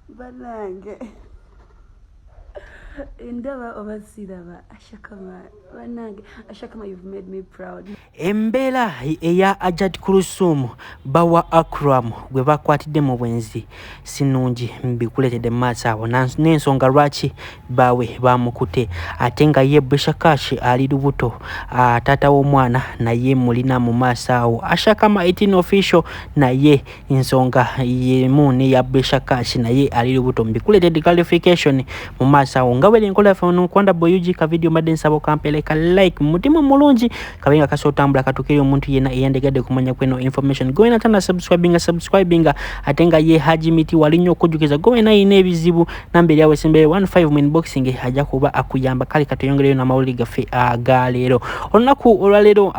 banange endaba oba siraba ashakama banange ashakama you've made me proud embeera eya ajat kurusum bawa akram gwe bakwatidde mu bwenzi sinungi mbikuleetedde mu maaso awo n'ensonga lwaki baawe bamukute ate nga ye brishakashi ali lubuto taata w'omwana naye mulina mu maaso awo ashakama 18 official naye ensonga yemu neya bresha cash naye ali lubuto mbikuletedde clarification mu maaso awo nga wera enkola yaffe ono kwanda boyugi ka vidiyo mbadde nsaba okampeleka like mutima omulungi kabe nga kasa otambula katukeri omuntu yena eyandegadde kumanya kweno information gowena tana subscribinga subscribinga ate nga ye haji miti wali nnyo okujjukiza gowena yina ebizibu namba eri awo esembeyo 15 mu inboxing ajja kuba akuyamba kale katuyongereyo n'amawulire gaffe aga leero olunaku olwaleero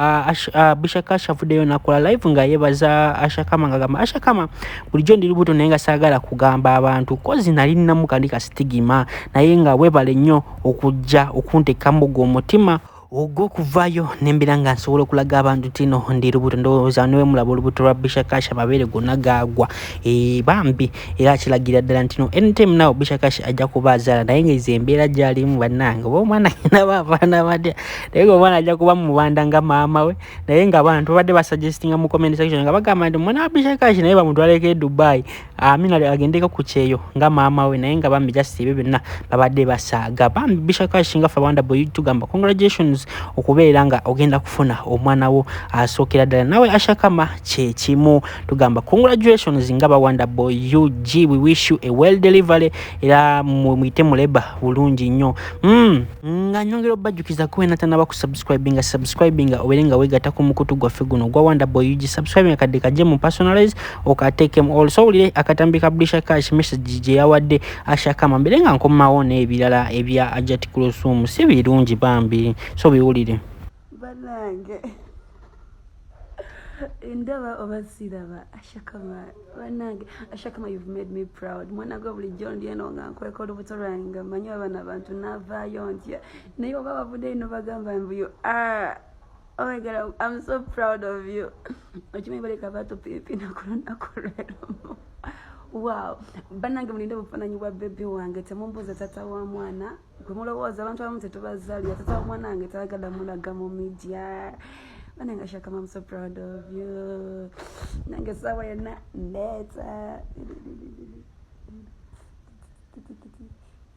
bishaka ashavuddeyo nakola live nga yebaza ashakama nga gamba ashakama bulijjo ndi lubuto naye nga saagala kugamba abantu kozi nali nnamu kandi kasitigima naye nga webale nnyo okujja okuntekamu gwe omutima ogwo okuvaayo nembera nga nsobola okulaga abantu tino ndi lubuto ndowooza newe mulaba olubuto lwa bishakash amabeere gonna gaagwa eh, bambi era kilagira ddala ntino anytime now bishakash ajja kuba azaala naye ngaezo embeera gyalimu bannange oba omwana naba abaana batya naye nga omwana ajja kuba mubanda nga maama we naye nga abantu babadde basuggestinga mu comment section nga bagamba nti omwana wa bishakash naye bamutwaleko edubai amina agendeko ku kyeyo nga maama we naye nga bambi just ebyo byonna babadde basaaga bambi bishakashinga fe abawanda boy tugamba congratulations okubeera nga ogenda kufuna omwana wo asookera ddala nawe ashakama kyekimu tugamba congratulations nga bawanda boy ug we wish you a well delivery era muyite muleba bulungi nnyo mm. nga nyongera obajjukiza kuwe natanaba ku subscribinga subscribinga obeere nga wegatako mukutu gwaffe guno gwa wanda boy ug subscribinga kadde kajje mu personalize okatekemu also owulire akatambi ka brisha cash message gye yawadde ashakama mbere nga nkomawo n'ebirala ebya ajat kulosum si birungi bambi so biwulire banange ndaba oba siraba ashakama banange ashakama you've made me proud mwana gwe bulijjo ndi eno nga nkweka olubuto lwange nga manyi abana abantu navaayo ntya naye oba bavudeyo nobagamba mbuyo ah. Oh my God, I'm, I'm so proud of you. Okimanyi baleka bato pipi na kulona kulelo. Wow. Banange mulinde bufananyi bwa baby wange temumbuza tata wa mwana. Gwe mulowooza abantu abamu tetubazalira tata wa mwana wange tayagala mulaga mu media. Banange Shaka, I'm so proud of you. Nange sawa yena ndeta.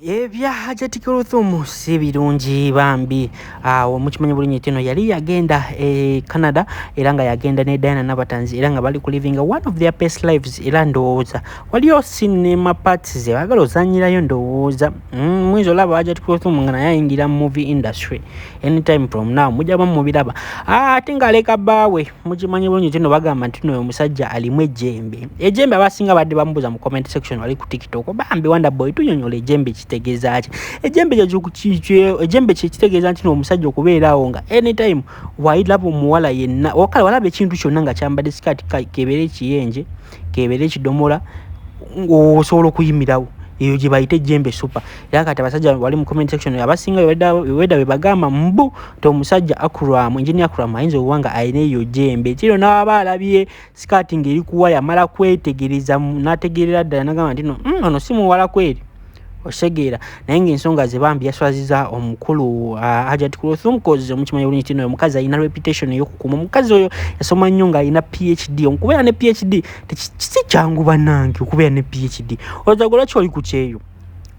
ebya hajati kuluthumu si birungi bambi awo ah, mukimanya bulungi nti eno yali yagenda e canada era nga yagenda ne diana nabatanzi era nga bali ku living one of their best lives era ndowooza waliyo cinema parts ze bagala ozanyirayo ndowooza mm, muyinza olaba hajati kuluthumu nga naye ayingira movie industry anytime from now mujaba mubiraba ah, ate ngaaleka baawe mukimanyi bulungi nti no bagamba nti noyo omusajja alimu ejjembe ejjembe abasinga badde bamubuuza mu comment section wali ku tiktok bambi wonder boy tunyonyola ejjembe kitegeeza ki ejjembe ejjembe kyekitegeeza nti no omusajja okubeera awo nga anytime wailaba omuwala yenna okale walaba ekintu kyonna nga kyambadde sikaati kebeere ekiyenje kebera ekidomola osobola okuyimirawo eyo gye bayita ejjembe super era kati abasajja wali mu comment section abasinga weda be bagamba mbu ti omusajja akuramu engineer akuramu ayinza okuba nga alina eyo jembe kino n'aba alabye sikaati ng'eri kuwa yamala kwetegereza n'ategeerera ddala nagamba nti no mm, ono si muwala kweri okitegeera naye ngaensonga ze bambi yaswaziza omukulu uh, hajat kulothum cause omukimanyi bulungi tino omukazi alina reputation eyokukuma omukazi oyo yasoma nnyo ng'alina phd okubeera ne phd si kyangu banange okubeera ne phd ozagola kyoli ku kyeyo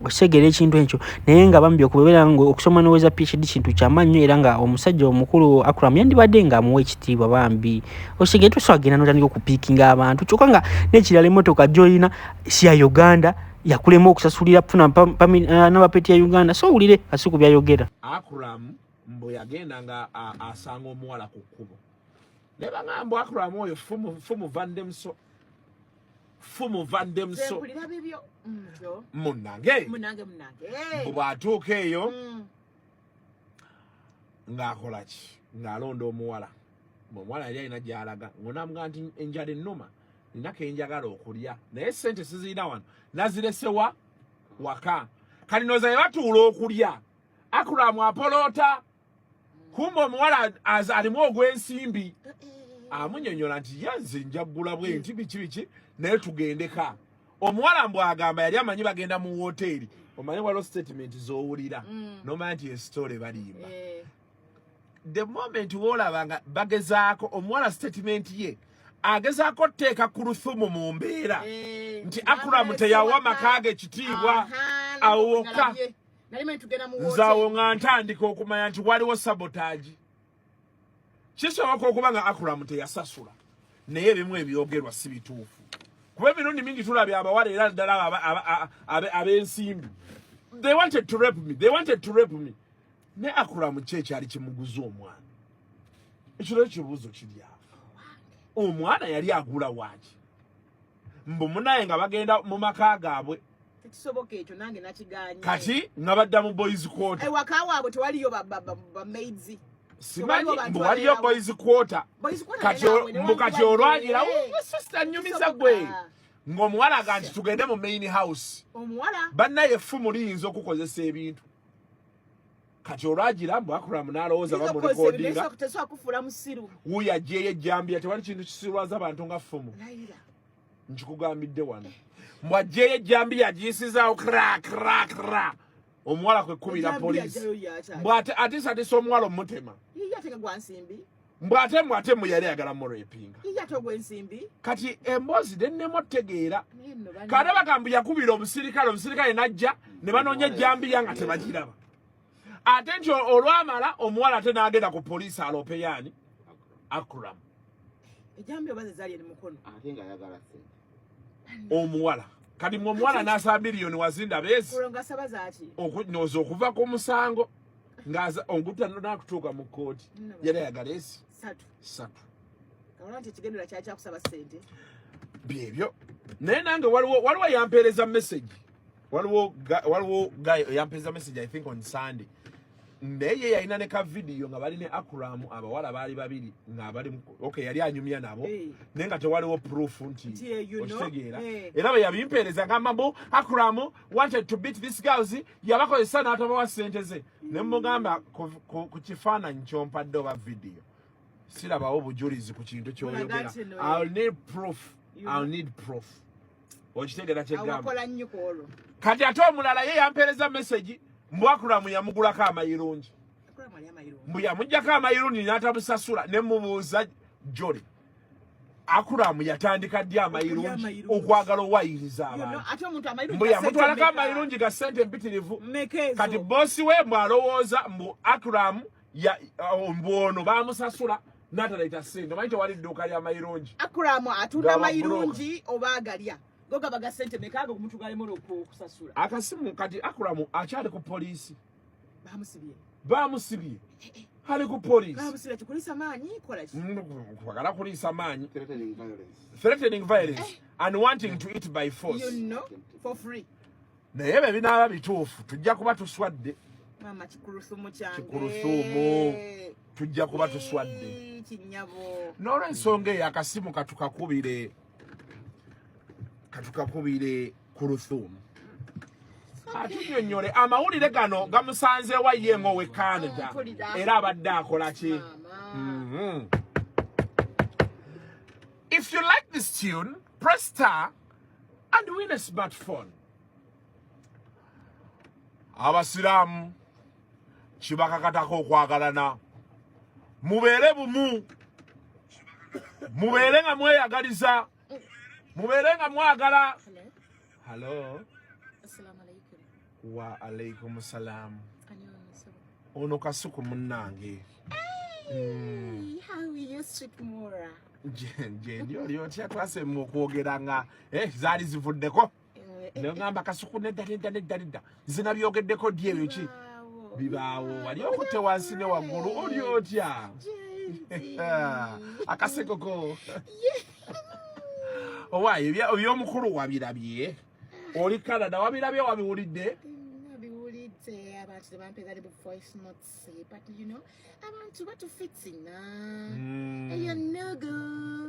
okitegera ekintu ekyo naye nga bambi okubeera nga okusoma noweza phd kintu kyamannyo era nga omusajja omukulu akram yandibadde nga amuwa ekitiibwa bambi okitegere tuswagenda notandika okupiikinga abantu kyokka nga nekirala emotoka gyolina siya uganda yakulema okusasulira kufuna eh, nabapeti ya uganda so wulire asi ku byayogera akram mbu yagenda nga asanga omuwala ku kkubo naye bagamba mbu akram oyo fumu vandemso fumu vandemso munange mbu bwatuuka eyo mm. ng'akolaki ng'alonda omuwala omuwala yali alina gyalaga ngonamga nti enjala ennuma nina kenjagala okulya naye sente sizirina wano naziresewa waka kati noza yebatuula okulya akulamu apoloota kumba omuwala alimu ogw'ensimbi amunyonyola nti yenze njagula bwe nti biki biki naye tugendeka omuwala mbu agamba yali amanyi bagenda mu woteeri omanyi waliwo sitatimenti zowulira mm. nomanya nti esitole balimba eh. the moment wolaba nga bagezaako omuwala statement ye agezaako oteeka ku luthumu mu mbeera eh, nti akuramu teyawa maka ge kitiibwa awoka nzawo nga ntandika okumanya nti waliwo sabotaagi kisoboka okuba nga akuramu teyasasula naye ebimu ebyogerwa si bituufu kuba emirundi mingi tulabya abawala era ddala ab'ensimbi they wanted to rape me they wanted to rape me ne akuramu kye kyali kimuguza omwana ekiro ekibuuzo kiri awo omwana yali agula waaki mbu munaye nga bagenda mu maka gaabwe tekisoboka ekyo nange nakiganye kati nga badda mu boys quarter ewaka eh, waabwe tewaliyo bamaids simanyi mbu waliyo boys quarter mbu kati olwagira sister nyumiza gwe ng'omuwala aga nti tugende mu main house bannaye effumu liyinza okukozesa ebintu kati olwagira mbu akuramu nalowooza bamulikodinga wuyo ajeyo ejjambiya tewali kintu kisirwaza bantu nga fumu nkikugambidde wano mbu ajeyo ejjambiya agiyisizaawo kra kra kra omuwala kwekubira polisi mbw ate atiisa atiisa omuwala omutema mbu ate mwe ate mwe yali ayagala murepinga kati emboozi dennemu otegeera kati abagambu yakubira omusirikale omusirikale najja ne banoonya ejjambiya nga tebagiraba ate nti olwamala omuwala ate n'agenda ku poliisi alopeyaani akuram omuwala kati mwe omuwala n'asaba miliyoni wazinda beezi okunooza okuva ku musango ngaza onguta no nakutuka mu koti yale ya garesi satu satu kaona nti kigendera kya kya kusaba sente byebyo naye nange waliwo waliwo yampereza message waliwo waliwo guy yampereza message i think on sunday naye yalina ne ka video nga bali ne akram abawala baali babiri nga bali okay yali anyumya nabo hey. naye nga tewaliwo proof nti okitegeera hey. era bwe yabimpeereza ngamba mbu akram wanted to beat this girls yabakozesa n'atabawa ssente ze ne mugamba ku kifaananyi kyompadde oba vidiyo sirabawo bujulizi ku kintu kyoyogera i'll need proof i'll need proof okitegera kyegamba kati ate omulala ye yampeereza message mbwakulamu yamugulako amayirungi mbu yamujjako amayirungi n'atamusasula ne mubuuza joli akuramu yatandika ddi amayirungi okwagala owayiriza abantuyamutwalako amayirungi ga sente empitirivu kati bosi we mwalowooza mbu akuramu uh, mbwono bamusasula natalaita sente manyi tewali dduuka lya mayirungi akuramu atunda amayirungi oba agalya gogabaga sente mekaaga okumutugalemola okusasula akasimu kati akuramu akyali ku poliisi bamusibye ali ku policekwagala kuliisa maanyi threatening violence eh. and wanting to eat by force you know, for free naye ebyo binaaba bituufu tujja kuba tuswadde kikulusumu tujja kuba tuswadde n'olwensonga eyo akasimu katukakubire katukakubire kuruthumu atunyonyole amawulire gano gamusanzeewa ye ng'owe canada era abadde akola ki mm-hmm. if you like this tune press star and win a smartphone abasiraamu kibakakatako okwagalana mubeere bumu mubeere nga mweyagaliza mubeere nga mwagala halo wa alaikum salam ono kasuku munnange gyendi oli otya twasema okwogera nga eh, zaali zivuddeko nagamba kasuku nedda nedda nedda nedda nze nabyogeddeko ddi ebyo ki bibaawo wali okutte wansi ne waggulu oli otya akasekoko owaayo ebyomukulu wabirabye oli canada wabirabye wabiwulidde say but you know abantu batufitina mm. eyo nugu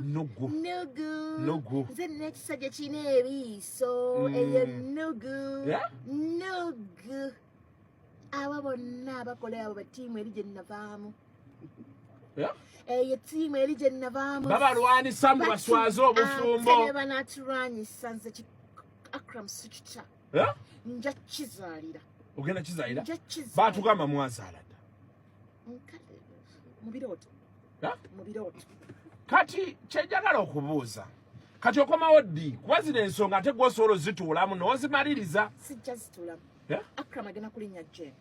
nugu nugu nugu nze nekisajja kirina ebiiso mm. eyo nugu yeah? nugu abo bonna abakola abo batiimu eri gye nnavaamu yeah? eyo eh, tiimu eri gye nnavaamu babalwanyisa mbu baswaze obufumbo ah, banatulwanyisa nze akram sikitako eh? nja kizalira ogenda kizalira batugamba mwazala dda mubirooto eh? mubirooto kati kyejagala okubuuza kati okomawo ddi kuba zino ensonga ate gwosobola ozituulamu nozimaliriza sijja zituulamu eh? akram agenda kulinya jeni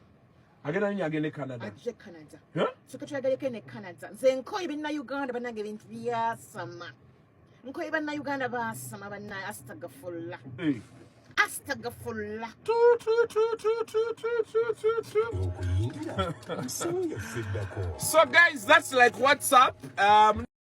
agenda nyo agende canada aje canada soka tulagaleko ne canada nze nkoye binna uganda banange bintu byasama nkoye bannayuganda baasama bannaye astagafulla astagafulla so guys that's like whatsapp um,